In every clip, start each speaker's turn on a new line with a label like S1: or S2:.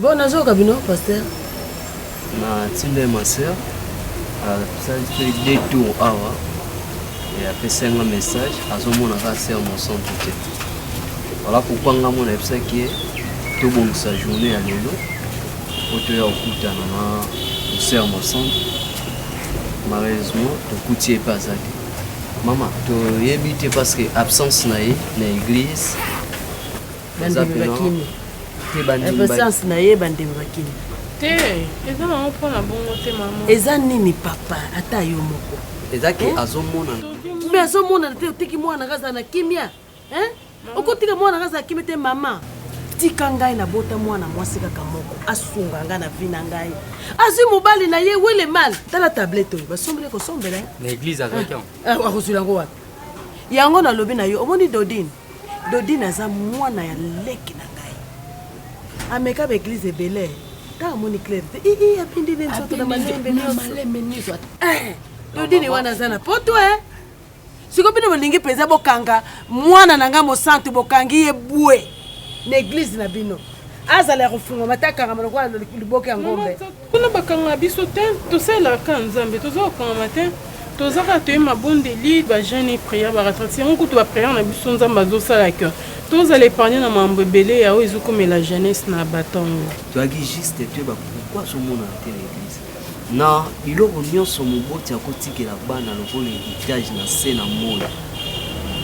S1: Bon nazoyoka
S2: bino pasteur. Na
S3: tinda ma sœur asali ah, mpe deux tours awa apesi yanga message azomona kaka sœur mosantu te wala pourkui nga mona ayebisaki ye tobongisa journée ya lelo mpo toya kokutana na sœur mosantu malheureusement tokuti ye mpe aza te mama toyebi te parce que absence na ye na église
S2: bandimi bakimi
S3: presence na ye bandimi
S2: bakimi te
S4: eza nango mpo na bongo te mama eza nini papa
S2: ata yo moko eza ke eh?
S3: azomonana mpe azomonana
S2: te otiki mwana nga aza na kimia eh? okotika mwana nga aza na kimia te mama tika ngai nabota mwana mwasi kaka moko asunga ngai na vi na ngai azwi mobali na ye wele mal tala tablete oyo basombeli kosombela eh?
S5: akozwila yango wapi
S2: yango nalobi na yo omoni dodine Dodine aza mwana ya leki na ngai. Ameka ba eglise ebele. Ntango amoni claire te, ii eh, eh, apindi nde nzoto na malembe nyonso. Eh, Dodine wana aza na poto eh. Siko bino bolingi mpenza bokanga mwana na ngai mosantu bokangi ye bwe na eglise na bino. Azala ya kofungwa matakanga malokola liboke ya ngombe. Kuna bakanga
S4: biso te, tosalelaka kaka Nzambe, toza kokangama te. Toza kaka toye mabondeli, ba jeune et prière, ba retraite. Yango kutu ba prière na biso Nzambe azosala que tozala épargne na mambo ebele ya oyo ezokomela jeunesse na batongo. Toyaki juste
S3: toyeba pourquoi azomonana te na eglise. Na biloko nyonso moboti akotikela bana lokola héritage na se na moi.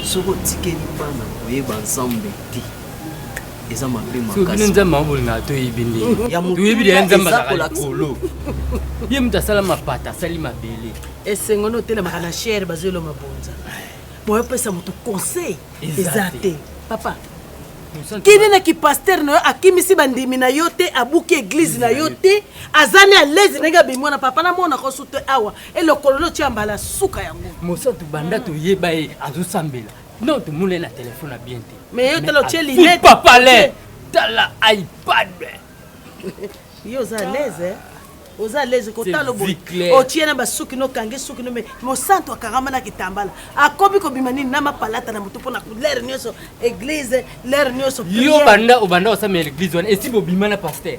S3: Soki otikeli bana koyeba Nzambe te, eza mabe makasibino nzambe yango bolingaka
S5: toyebi ndetoyebi deya
S3: nzambe azalaka
S5: likolo ye moto asala mapata asali mabele esengo nde otelemaka
S2: na chere bazoyelo mabonza boye opesa moto conseil eza te papa kende na kipaster na yo akimisi bandimi na yo te abuki eglize na yo te aza ne alaise ndenge abimwana papa namonaka osu te awa elokolo notya mbala suka yango mosantu banda
S5: toyeba ye azosambela Non, tu moules na téléphone à bien te. Mais yo tala otie lunette.
S2: Pas palais.
S5: Tala iPad.
S2: Yo za l'aise hein. oza leze kotala boye otie na basuki
S5: nokange
S2: suki no me mosantu akangama na kitambala akomi kobima nini na mapalata na motu mpo na lere nyonso eglize lere nyonso yo banda obanda
S5: osamela eglize wana esi bobima na paster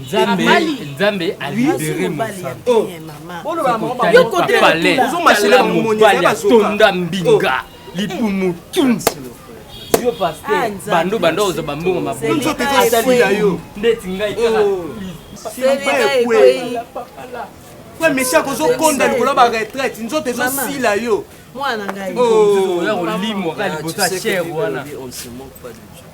S6: nzambe
S5: nzambe alibere
S6: mosaotonda mbinga
S5: libumu tunsi yo paster bando bando oza bambongo maboyo
S6: ndeti
S5: ngai
S6: kaka mpe mesi akozokonda likolo ya baretraite nzoto ezosila yo mwana
S2: ngai oya kolimwa
S5: kaka liboso ya chere wana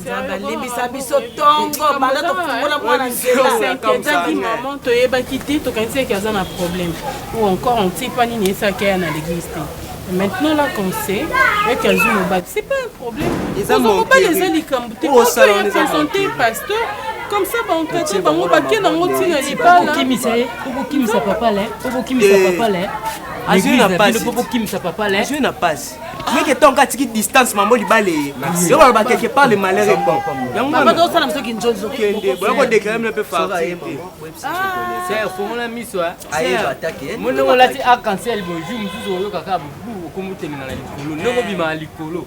S2: nzambe alimbisa biso tongo banda tofungola mwana nzelaeketaki
S4: mama toyebaki te tokanisaki aza na problème ou encore ontipa nini esaki aya na l'église te maintenant là qu'on sait ete azwi mobali c'est pas un problème ozwa mobali eza likambo te oyo ya présente pasteur comme ça bankate bango bake nango ntina libalaokokimisa ye okokimisa
S7: papa le okokimisa papa le azwi na
S5: pasi okokimisa papa le azwi na pasi
S6: meke ntango atiki distance mambo libale ye yo baloba quelque part le malheur est bon yangoosala biso
S2: kinzonzo kende boya kodeklare
S6: mino mpe farti
S5: te fongola miso
S3: mondenge olati
S5: arc-en-ciel boye jour mosusu oyokaka bobu okomotemela na likolo ndenge obima na likolo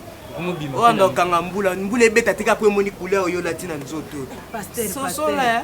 S5: oyo anda
S6: okanga mbula mbula ebeta tika mpo emoni couleur oyo olati na nzoto sosola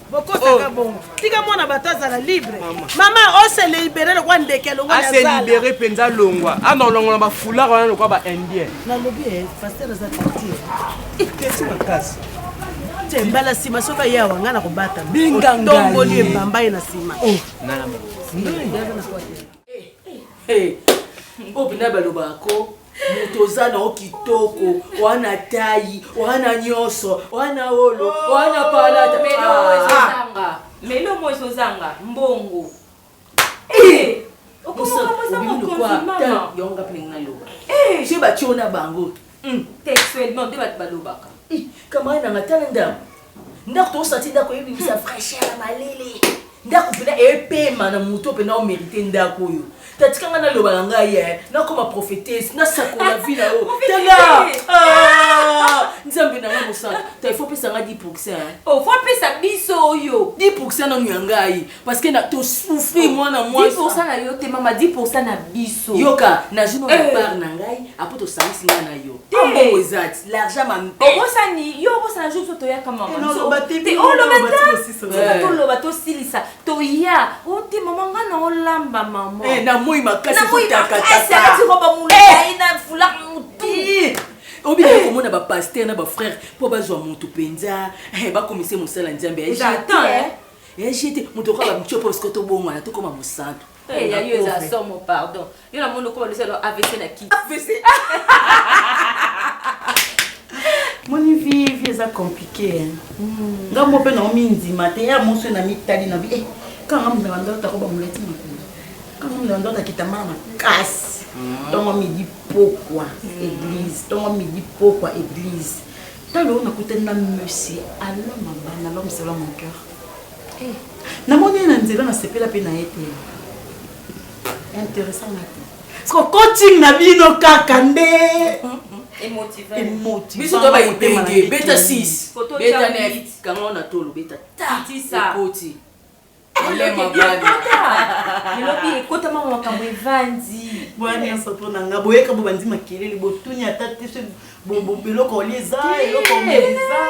S6: bokosaka oh.
S2: bongo tika mwana bato azala libre mama ose libere lokwa ndeke alongoase libere mpenza
S6: longwa ana olongola bafoulard wana lokwa ba indien nalobi eh, paster
S2: aza tati
S6: kesi makasi te
S2: mbala nsima soki aye awa ngai nakobatama bingangatomboli
S6: ebamba ye na nsima
S2: oh. Hey, oyo mpena balobaka ko moto oza na o kitoko oa na tai oa na nyonso oa na olo oa na palata
S7: melomo ezozanga mbongo okomoka moza mokonzi
S2: mama yango nga mpe ndenge naloba soki batio na bango Hum textuellement
S7: nde batu balobaka. Hi camarade nanga
S2: tala ndaku ndaku tozosala ti ndaku ebimisa fraîcheur ya malili ndaku pena epema na moto pena omerite ndaku oyo tatika nga naloba na ngai eh, nakoma prophetese nasakola vi na yo tala ah, nzambe na ngai mosala ta ifo pesa ngai 10 pourcent eh. ofo oh, pesa
S7: biso oyo 10 pourcent nanu ya ngai
S2: parce que na to souffrir mwana mwasi 10% na yo te mama
S7: 10% na biso yoka nazwi no
S2: Eh. part na ngai apres tosangisi ngai na yo Te. mbongo eza ti l'argent ma mpe obosani yo obosana
S7: jour biso toyaka mama Eh, naloba te, bino oloba boloba te bosisa te ngai. toloba tosilisa toya o te mama nga na olamba mama Eh, na moi makasi Na
S2: moi makasi, alati ezotakataka roba molai na foulard motu obinaki komona bapaster na bafrère mpo bazwa moto mpenza bakomise mosala nzambe ya J'attends, hein. ya jete moto okoka bamtio mpo siko tobongwana tokoma mosantu Eh, ya yo eza
S7: somo pardon yo na moni okoma lisalo avc na kiti avc
S8: moni vie vie eza compliqué hmm. nga mo mpe nao mindima te ya moso na mitali na bi eh, kanga mona bandoto akoba molati makolo kanga mona bandoto akitama na makasi ntongo hmm. midi pokwa hmm. église ntongo midi pokwa église Talo oyo nakutani na monsieur Alain Mabanda, l'homme selon mon cœur. Eh, namoni ye na nzela nasepela mpe na ye te. Intéressant na te. Siko coaching na bino kaka nde.
S7: biso to baipenge
S2: beta 6 beta 9 kanga na tolo beta ta ekoti
S7: elobi ekotama makambo evandi boya nyonso mpo na
S8: nga boyeka bo bandi makelele botuni ata te so eloko olie eza eloko eza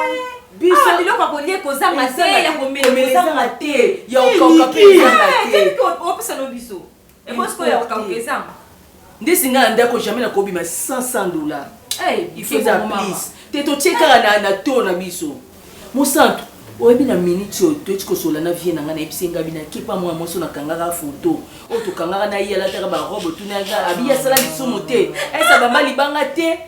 S8: biso
S7: biloko akolie kozanga te ya komelezanga te ya okauka
S2: mpe ezanga te
S7: opesa no biso Ekosi ko ya kokabuka ezanga. Ndesi nga na
S2: ndako jamais na kobima 500 dollars. Hey, il faut za please. Te to tie kaka na na to na biso. Mosantu, oyebi na minute oyo toyeti kosola na vie na ngai nayebisi ngai bina kepa mwa mwasi oyo nakangaka foto oyo tokangaka na ye alataka barobe otunaka abi asala lisumu te esa bamba libanga te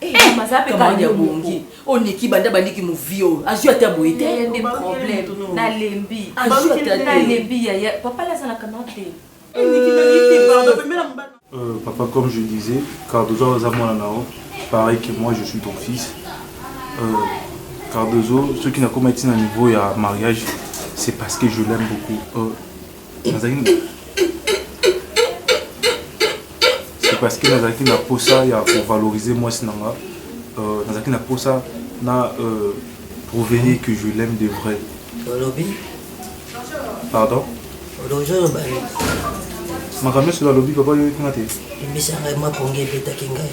S2: Eh, eh,
S8: maza pe kali bongi oniki banda bandiki movie oyo azwi ata boye te yaya nde problème
S7: nalembi azwi ata te nalembi yaya papa lazalaka na te Euh,
S9: papa, comme je disais, Cardozo Azamolanao, pareil que moi, je suis ton fils. Euh, Cardozo, ceux qui n'ont pas été à niveau à mariage, c'est parce que je l'aime beaucoup. Euh, parce que nazalaki na posa ya kovaloriser mwasi na nga euh, nazalaki na posa na euh, prouver ye que je l'aime de vrai olobi pardon olobi oloba makambo nyonso alobi papa oyoki nga te ebisa ngai mapongi ebetaki ngai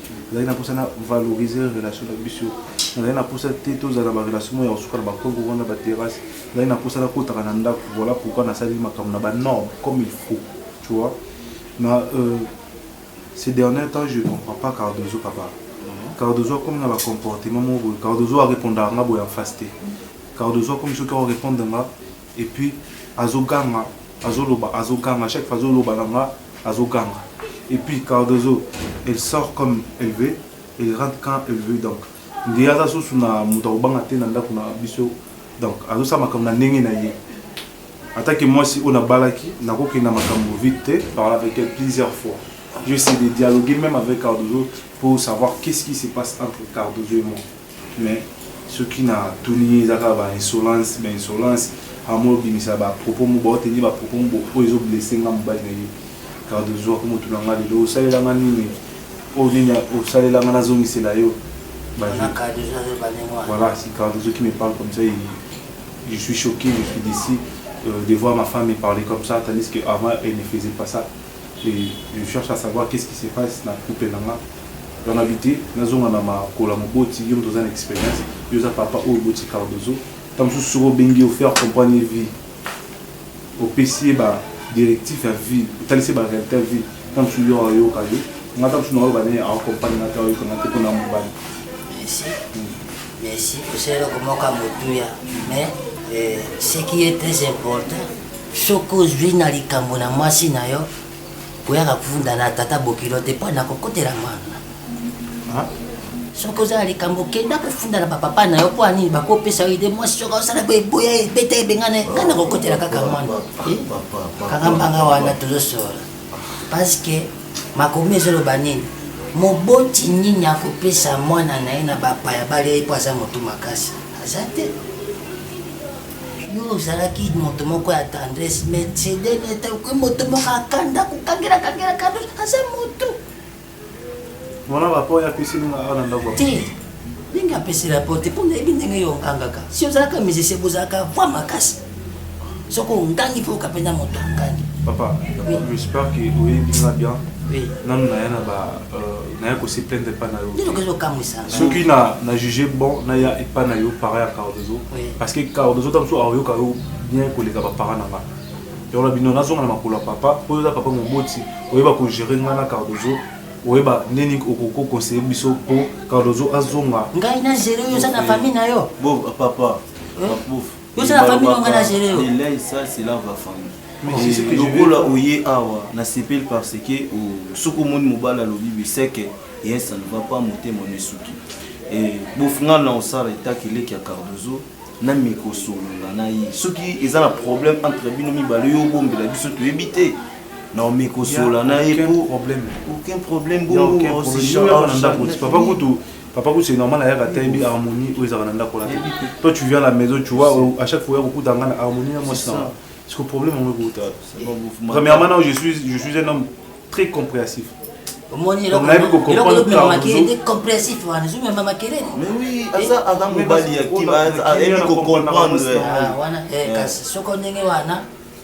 S9: nazali na mposa na valoriser relation na biso nazali na mposa te tozala na barelation moko ya kosuka na bakongo wana baterrasse nazali na mposa nakotaka na ndako voilà pourquoi nasali makambo na banorme comme il faut tu vois na euh, ces derniers temps je comprends pas cardozo papa mhm. cardozo akomi na bacomportement moko boye cardozo arépondaka nga boye en face te cardozo akomi soki aorépondre nga Et puis azo ganga azo loba azo ganga chaque fois azo loba na nga azo ganga et puis Cardozo elle sort comme elle veut elle rentre quand elle veut donc ngeyi aza susu na moto akobanga te na ndako na biso donc azosala makambo na ndenge na ye atake mwasi oyo nabalaki nakokenda makambo vite te parle avec elle plusieurs fois je sais de dialoguer même avec cardozo pour savoir qu'est ce qui se passe entre cardozo et moi Mais soki na tuni ye eza kaka ba insolence ba insolence amo obimisa ba propos mo bao tenir ba propos mo oyo ezo blesse nga mobali na ye Cardozo akomo tuna nga lelo osalela nga nini oyo nini osalela nga nazongisela yo ba voilà si Cardozo qui me parle comme ça il, je suis choqué je suis déçu euh, de voir ma femme me parler comme ça tandis que avant elle ne faisait pas ça et je cherche à savoir qu'est-ce qui se passe na couple na nga donc na bite nazonga na makola moboti yo moto oza na expérience yo oza papa oyo oboti cardozo ntango mosusu soki obengi yo faire comprendre ye vie opesi ye ba directif ya vie otalisi ye ba réalité ya vie ntango mosusu yo ayoka yo nga ntango mosusu nayoka ne akompagne nga te ayoka nga te mpo na mobali merci
S10: merci osala eloko moko ya motuya mais euh, ce qui est très important Soki ozwi na likambo na mwasi na yo, koyaka kofunda na tata bokilo te mpo nakokotela mwana. Soki oza na likambo kenda kofunda na bapapa na yo mpo anini bakopesa yo ide mwasi soki osala boye boya ebeta ebengana ngai nakokotela kaka mwana eh? kaka mbanga wana tozosolola parce que makomi ezoloba nini moboti nini akopesa mwana na ye na bapaya balia ye mpo aza motu makasi aza te yo ozalaki moto moko ya tendresse me cedene etakoki moto moko akanda kokangela kangela kando aza moto
S9: wana rapport ya piscine nga awa na ndako te
S10: ndenge apesi rapport te mpo nayebi ndenge yo ongangaka si ozalaka musicien bozalaka voi makasi soki ongangi mpo okapenda moto angangi papa
S9: j'espère que oyebi nga bien nanu naya na ba euh, naya kosiplendre epa na yo soki na juge bon naya epa na yo para ya cardozo parce que cardozo ta mosusu aoyoka yo bien koleka bapara na nga yango na bino nazonga na makolo ya papa mpo oza papa moboti oyeba kogere nga na cardozo oyeba ndeni okokokonseille biso mpo cardozo azonga ngai na gere oyo
S10: oza na famille na yo papa Yo c'est la famille on a géré. Il est ça c'est là va
S11: famille. lokola oye awa nasepeli parce que soki omoni mobali alobi biseke ye ça ne va pas motema na esuki bofingana na osala etaki eleki ya cardozo na mikosolola na ye soki eza na problème entre bino mibale yo obombela biso toyebi te naomi kosola na ye aucun problème bongo papa kutu
S9: Papa Kouse, c'est normal, ayaka te bi harmonie oyo ezalaka na ndako wana te. Toi tu viens à la maison, tu vois à chaque fois yako kuta ngana harmonie na mwasi na. Est-ce que problème yango ekouta? Premièrement, non, je suis je suis un homme très compréhensif. omoni
S10: compressif wana ezomema makelele ayebi kocomprendre soki ndenge wana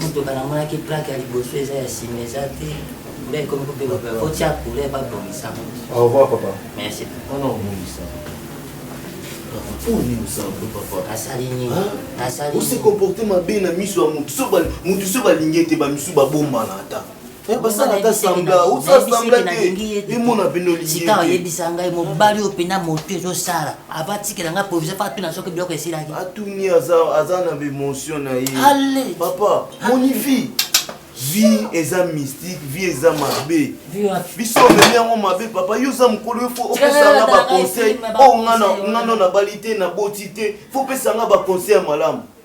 S10: Muteba namonaki plaque ya liboso eza ya sima eza te nde ekomi kobeba kotia couleur babongisa au revoir papa
S9: merci wana
S10: obongisa
S11: asali nini
S10: asali ose
S11: comporte mabe na miso ya motu so balingi ete bamisu babombana ata sikawa yebisa ngai
S10: mobali oyo mpena motu ezosala abatikela ngai provisa faa tuna soki biloko esilaki atuni
S11: aza na bemotion na ye papa monivi vie eza mystique vie eza mabe biso omemi yango mabe papa yo oza mokolo yo fo opesanga baconseil oyo oh, ngano nabali te naboti te fo opesanga baconseil ya malamu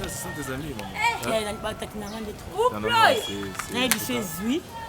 S12: Sasa sante za mimi mama. Eh, eh, na bata kinanga ndetu. Uploi. Na ebi chez lui.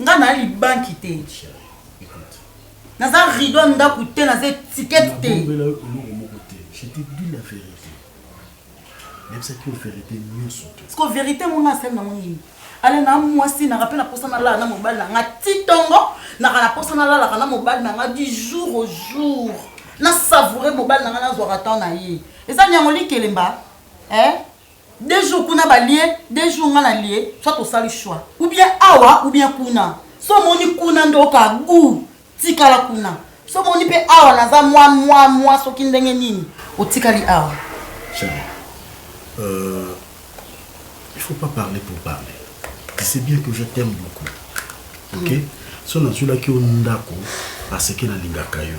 S8: nga na libanki te naza rido ya ndako te naza etikete te nabombela yo eloko moko te
S13: je te dis la vérité nayebisaki yo vérité nyonso te siko vérité monga
S8: asali nango nini ale na mwasi naka mpe naposa nalala na mobali na nga ti ntongo naka naposa nalalaka na mobali na nga du jour au jour nasavoure mobali na nga nazwaka temps na ye eza nyango likelemba eh? Deux jours kuna ba lie, deux jours nga na lie, soit osali choix. Ou bien awa ou bien kuna. Soki omoni kuna nde oyoka gout, tikala kuna. Soki omoni mpe awa naza mwa mwa mwa soki ndenge nini, otikali awa. Chérie,
S13: euh, il faut pas parler pour parler. Tu sais bien que je t'aime beaucoup. OK? Mm. So nazulaki yo ndako parce que nalingaka yo.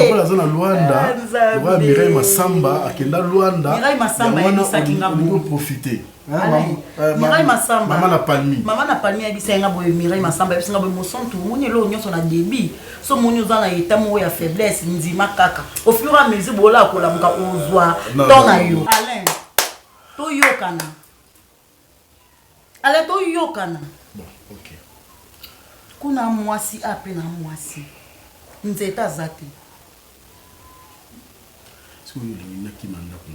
S13: lokola
S8: aza na luanda
S13: eh, lokola mirai masamba akenda luanda
S8: profite
S13: mirai
S8: masambamama na palmi mama
S13: na palmi ayebisa
S8: yanga boye mirai masamba ayebisa nga boye mosantu omoni eloko nyonso na debit so omoni oza na eta moko ya faiblesse ndima kaka au fur et à mesure bola akolamuka ozwa temps na yo alain toyokana ale toyokana
S13: bon ok
S8: kuna mwasi ape na mwasi nzete aza te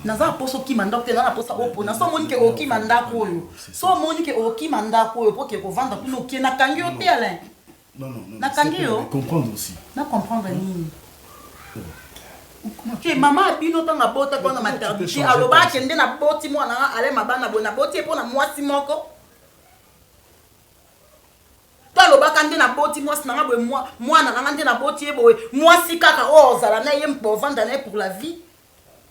S13: naza na mposa okima ndako
S8: te naza na mposa opona so omoni ke okima ndako oyo so omoni ke okima ndako oyo po ke kovanda kuna okie nakangi yo te alain Non, non, non.
S13: Nakangi yo.
S8: Comprendre aussi. Na
S13: comprendre nini?
S8: te oh. mama abino ntango abota mpo na maternité aloba akende na boti mwana nga ale mabana boye naboti ye mpo na mwasi moko to alobaka nde naboti mwasi na nga boye mwana na nga nde naboti ye boye mwasi kaka oyo ozala na ye mpo ovanda na ye pour la vie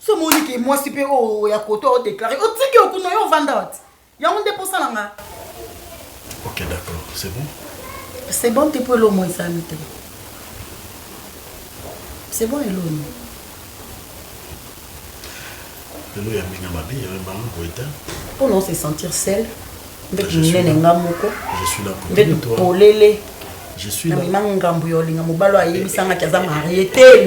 S8: so omoni ke mwasi mpe oyo ya koto o déclare otiki okuna yo ovanda wati yango nde mposa na nga ok
S13: d'accord c'est bon c'est bon
S8: te mpo elomo ezali te c'est bon elomo
S13: lelo ya mbinga mabe ya bango boye te mpo na se
S8: sentir sel mbetu minene
S13: nga moko mbetu polele namema ngambo ya olinga mobali oyo ayebisangaki aza marie te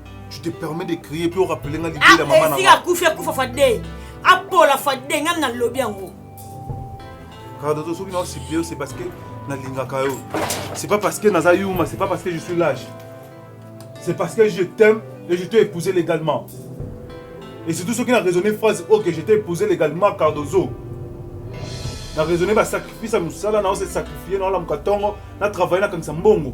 S9: Tu te permets de crier puis on rappelle nga l'idée de maman. Esi akufi akufa fade. Apola fade nga na lobi yango. Cardo to soki na supplier c'est parce que na lingaka yo. C'est pas parce que naza yuma, c'est pas parce que je suis lâche. C'est parce que je t'aime et je t'ai épousé légalement. Et surtout ceux qui ont raisonné phrase OK, je t'ai épousé légalement Cardozo. Na raisonné ba sacrifice à musala na on s'est sacrifié na la mukatongo, na travailler na kanisa mbongo.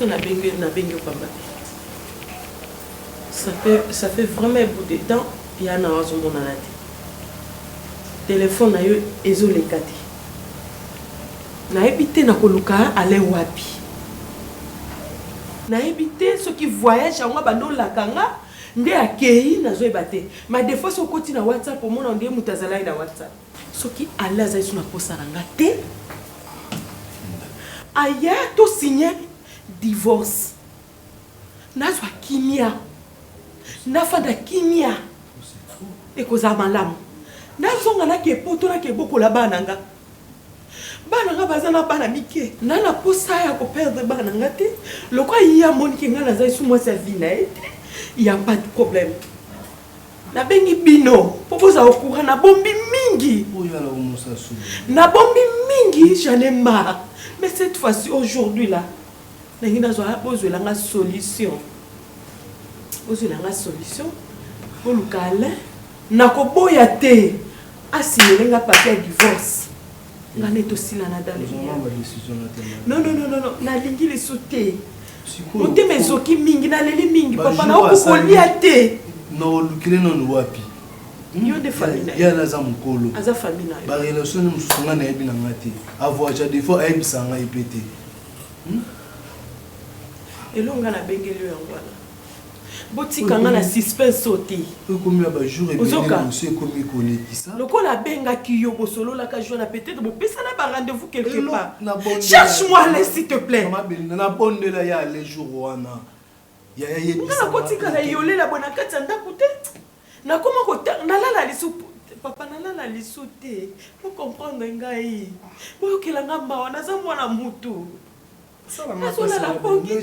S2: biso nabengi nabengi pamba ça fait ça fait vraiment un bout de temps ya na azomonana te telefone na yo ezoleka te Nayebi te nakoluka Alain wapi. Nayebi te soki voyage yango abandi olaka nga nde akeyi nazoyeba te. Mais de fois soki okoti na WhatsApp omona on dirait mutu azalaki na WhatsApp. Soki Alain azali sous na posa na nga te aya to signe divorce. nazwa kimia nafanda kimia ekozala malamu nazonga nake poto nake bokola bana nga bana nga baza na bana mike na na posa ya koperdre bana nga te lokola ye amonike nga naza esu mwasi ya vi na ye te ya pas de problème nabengi bino mpo bozala okura nabombi mingi
S13: nabombi
S2: mingi j'en ai marre mais cette fois-ci aujourd'hui là Nalingi nazwa bozwela nga solution. Bozwela nga solution. Boluka Alain. Nakoboya te. Asimele nga papier ya divorce. Nga ne tosilana dans le Non non non non, nalingi lisu te. Motema ezoki mingi, naleli mingi papa na okokolia te. Na olukile
S13: nanu wapi? Hmm? Yo nde
S2: famille na ye. Yana aza mukolo.
S13: Aza famille na ye. Ba
S2: relation mosusu
S13: nga nayebi na nga te. Avoaja defo ayebisa nga ye pe te.
S2: Hum
S13: eloko nga na
S2: bengeli yo yango wana botika nga na suspense oyo te ekomi na bajour
S9: ebeemosi ekomi
S2: kolekisa
S9: lokola abengaki
S2: yo bosololaka joi na peut-être bopesana ba rendez-vous quelque part cherche moi
S9: le s'il
S2: te plaît na bondela
S9: ya le jour wana Yaya yebisa nga. Nga nakotikala
S2: iyolela boye na kati ya ndaku te. Nakoma kotanga nalala lisusu papa nalala lisu te bo comprendre ngai boyokela nga mawa naza mwana mutu nazolala pongi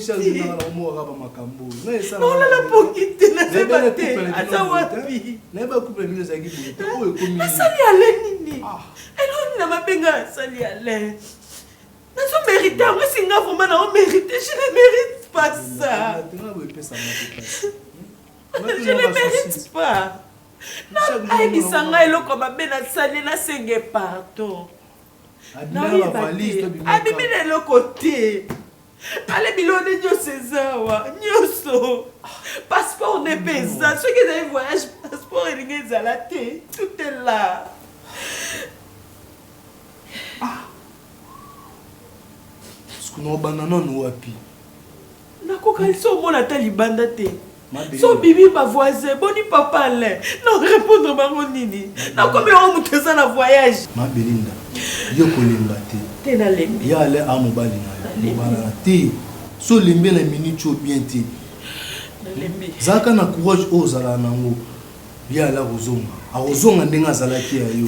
S2: teolala pongi te nazeba te aza
S9: wapi asali ale nini
S2: eloni na mabe ngai asali ale nazo merite yango esi nga vraimen nao merite je ne merite pas ça je ne merite pas ayebisa ngai eloko mabe nasali nasenge pardon abimi na eloko te ale bilone nyonso eza awa nyonso passeport nde mpe eza soki ezali voyage passeport elingi ezala te tout est là
S9: sikoyo obanda nanu wapi
S2: nakokanisi omona ata libanda te so bibi bavoisin boni papa alain na répondre bango nini nakomi yango moto eza na voyage mabelinda
S9: yo kolemba te te nalembi ya
S2: alain a mobali na
S9: yobalana te so olembi na minute oyo bien te
S2: zalaka na courage
S9: oyo ozalaka nango ya alain akozonga akozonga ndenge azalaki ya yo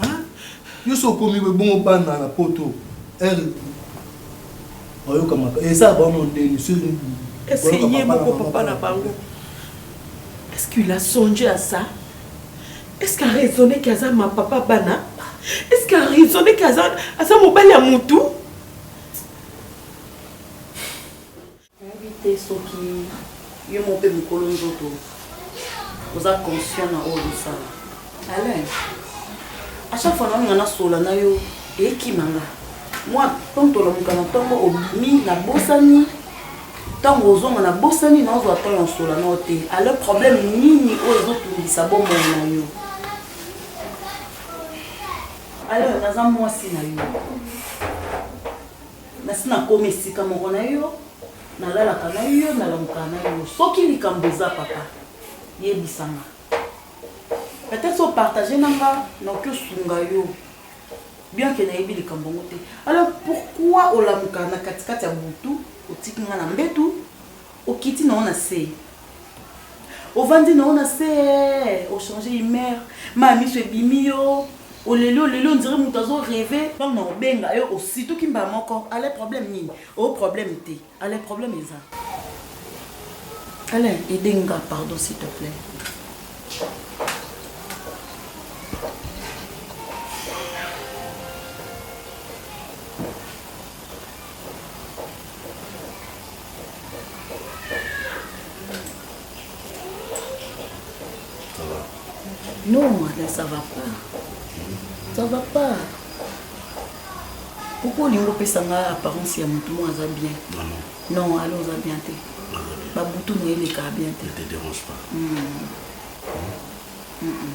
S2: Hein?
S9: Yo so komi boye bongo bana na poto heure bayoka maka esa ba mo ndeni so Est-ce que ye
S2: moko papa na bango Est-ce qu'il a songé à ça? Est-ce qu'il a raisonné qu'il a ma papa bana? Est-ce qu'il a raisonné qu'il a mon belle à mon tout?
S8: Nayebi te soki yo moko mpe mokolo nzoto oza conscient na oyo ozosala. Alain, à chaque fois naolinga nasolola na yo ekima nga mwa ntango tolamuka na ntongo obimi nabosani ntango ozonga nabosani naozwa ntango ya kosolola na yo te alors problème nini oyo ezotungisa bomoi na yo alors naza mwasi na yo Nasi nakoma esika moko na yo, nalalaka na yo, nalamuka na yo. Soki likambo eza papa, yebisa nga. Peut-être so partager na nga, nakoki osunga yo. Bien que nayebi likambo ngo te. Alors pourquoi olamuka na katikati ya butu, otiki nga na mbetu? Okiti na yo na se. Ovandi na yo na se, o changer humeur. Ma miso ebimi yo. Oleli oleli on dirait moto azo reve. Tango na obenga yo osituki mbala moko. Alain problème nini? O problème te. Alain problème eza. Alain, aide nga pardon s'il te plaît.
S13: Non,
S8: madame, ça va pas. Ça va pas. Pourquoi olingi opesa nga apparence ya motu moko aza bien non ale oza bien te babutu na ye elekaka bien te hmm.
S13: Hmm. Hmm.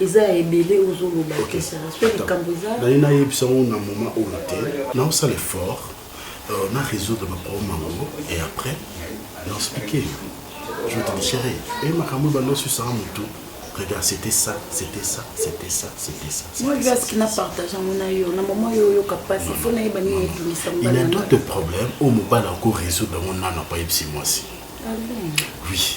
S8: eza ya ebele ozoloba te sa soki likambo
S13: eza nani nayebisa yango na moma oyo te naosala effort euh, na résoudre baproblème yango et après na expliqué je te déchirai e makambo oyo bando osusaka motu regarde c'était ça c'était ça c'était ça c'était ça moi je ce qu'il a partagé
S8: mon ayo na maman yo yo capable il faut naïba ni
S13: ebimisa il y a d'autres problèmes au mobala ko résoudre mon nana pas ebisi moi si ah oui